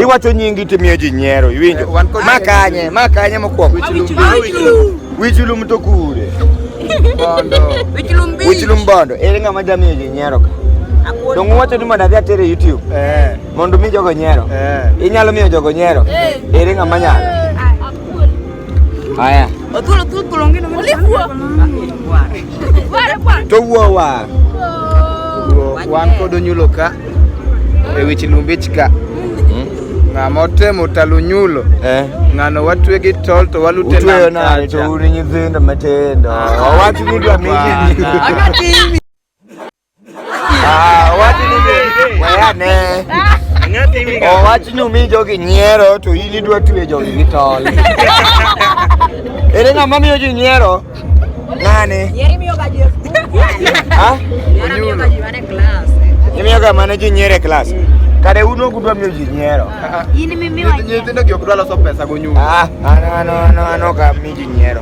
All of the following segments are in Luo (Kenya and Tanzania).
iwacho nyingi timiyo ji nyiero iwinjo makanye makanye mokwongo wichulum to kure wichulum bondo ere ng'ama jamiyo ji nyiero ka dong uwacho ni mondo adhi atere youtube eh. mondo mi jogo nyiero eh. inyalo miyo jogo nyiero eh. ere ng'ama nyalo Haya. Othuolo thuol thuol onge nonge. Olifuo. Ware kwa. To wuo wa. Wan kod onyulo ka. E wich lumbich ka. Hmm? Ng'a motemo talo nyulo. Eh. Ng'ano watwe gi tol to walute na. Utweyo na to uri nyithindo matindo. Ah, Wawach ni dwa mimi. Akati Ah, wati ni wayane. Ngati mi. Oh, wati ni mi jogi nyiero to ili dwa tuwe jogi gi tol. Ere ng'ama miyo ji nyiero? Nani? Nyiero miyo ga ji. Ha? Miyo ga ji mane class. Miyo ga mane ji nyiere class. Kare uno gudwa miyo ji nyiero. In mi miyo. Nyithindo gi ok dwa loso pesa go nyulo. Ah, ano ano ano ano ka mi ji nyiero.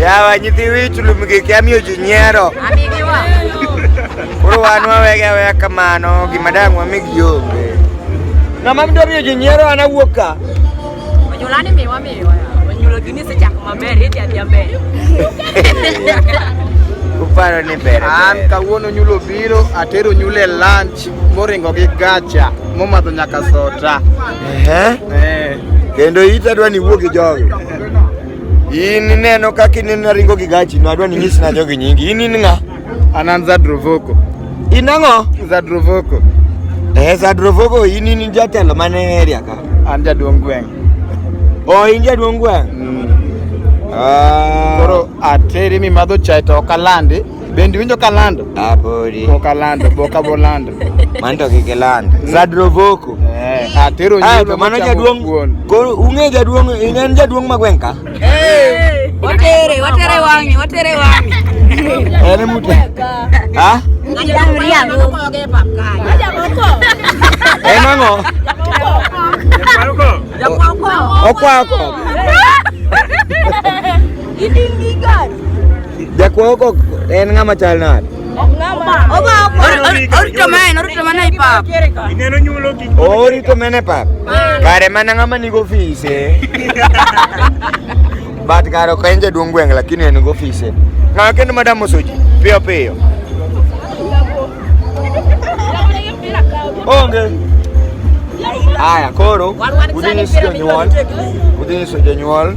Yawa nyithi wich lumgi kia miyo ji nyiero. Koro wan wawege aweya kamano gima dang' wamig yombe. Ng'ama mdo miyo ji nyiero an awuok ka. Onyulani miwa miwa. Onyulo gini sechako maber, idhi adhi maber. Uparo ni ber. An kawuono nyulo biro atero nyule lunch. moringo gi gacha momadho nyaka sota Ehe. eh. kendo ita dwa ni wuogi jogi in ineno kaka in naringo gi gachi no adwa ni nyis na jogi nyingi in in ng'a an an zadrovoko in ang'o zadrovoko eh zadrovogo in in jatelo mane area ka an jaduong' gweng' o in jaduong' gweng' mm. Ah. koro ateri mimadho chae to ok alandi Bendi winjo kalando. Abori. Ah, Bokalando, boka bolando. Manto kikilando. Mm. Zadrovoko. Eh, atero ah, nyuto. Ah, mano jaduong. Koro unge jaduong, ingen jaduong magwenka. Eh. Watere, watere wangi, watere wangi. Ene mute. Ha? Ngajak meriam. Ngajak moko. Enango. Ngajak moko. Ngajak moko. Okwa okwa. Idingi gari. Jakuo ko en ng'ama chal nade? Orito mene, orito mene i pap. Ineno nyulo gi. Orito mene pap. Kare mana ng'ama ni ofise. But kare ok en jaduong' gweng' lakini en ofise. Ng'ama kendo madam mosoji piyo piyo. Onge. Haya, koro udhi nyiso jonyuol, udhi nyiso jonyuol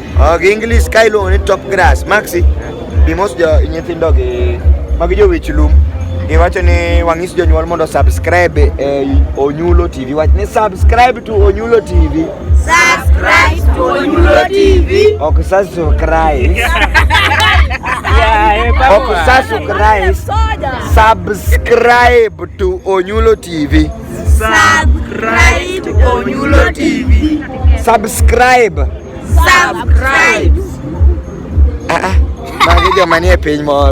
Ok, English ka iluongo ni top grass. Maxi, bimos jo nyithindo gi magi jo wich lum. Giwacho ni wang'is jonyuol mondo subscribe e Onyulo TV. Wach ni subscribe to Onyulo TV. Subscribe to Onyulo TV. Ok subscribe. Ok subscribe. Subscribe to Onyulo TV. Subscribe to Onyulo TV. Subscribe. Subscribe. Ah ah. Magi joma nie piny moro.